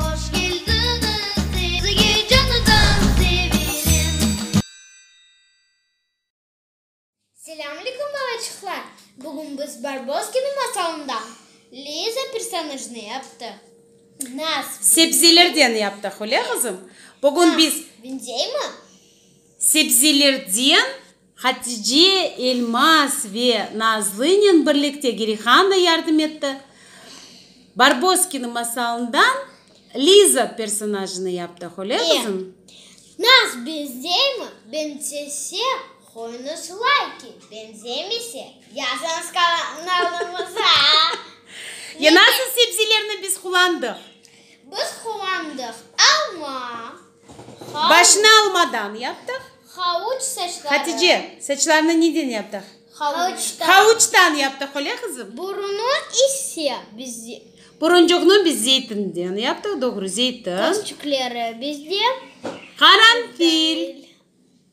Hoş keldiñiz sizge canıdan sevenim. Selâm alikum balaçıqlar! Bugün biz Barboskinıñ masalından Liza personajnı yaptıq. Nas. Sebzelerden yaptıq, öyle qızım? Bugün biz. Benzeymi? Sebzelerden. Hatice, Elmaz ve Nazlınen birlikte Girihan da yardım etti. Barboskina masalından Liza personajını yaptıq, öyle qızım? E, naz benzeymi, benzese, qoyuñız layki, benzemese, yazıñız kanalımıza. E, nasıl sebzelerni biz qullandıq? Biz qullandıq alma. Başnı almadan yaptıq. Havuç saçları. Hatice, saçlarını neden yaptıq? Havuçtan. Havuçtan yaptıq, öyle qızım? Burunı ise biz. Buruncuqnı biz zeytinden yaptıq, doğru, zeytin. Közcükleri biz de. Qaranfil.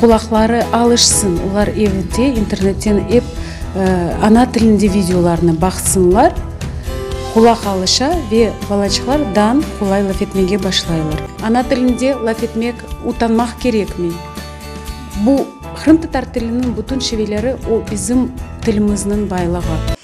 Qulaqları alışsın, olar evde internetten ep ana tilinde videolarnı baqsınlar, qulaq alışa ve balaçıqlar dan qolay laf etmege başlaylar. Ana tilinde laf etmek utanmaq kerekmi? Bu, qırımtatar tiliniñ bütün şiveleri, o bizim tilimizniñ baylığı.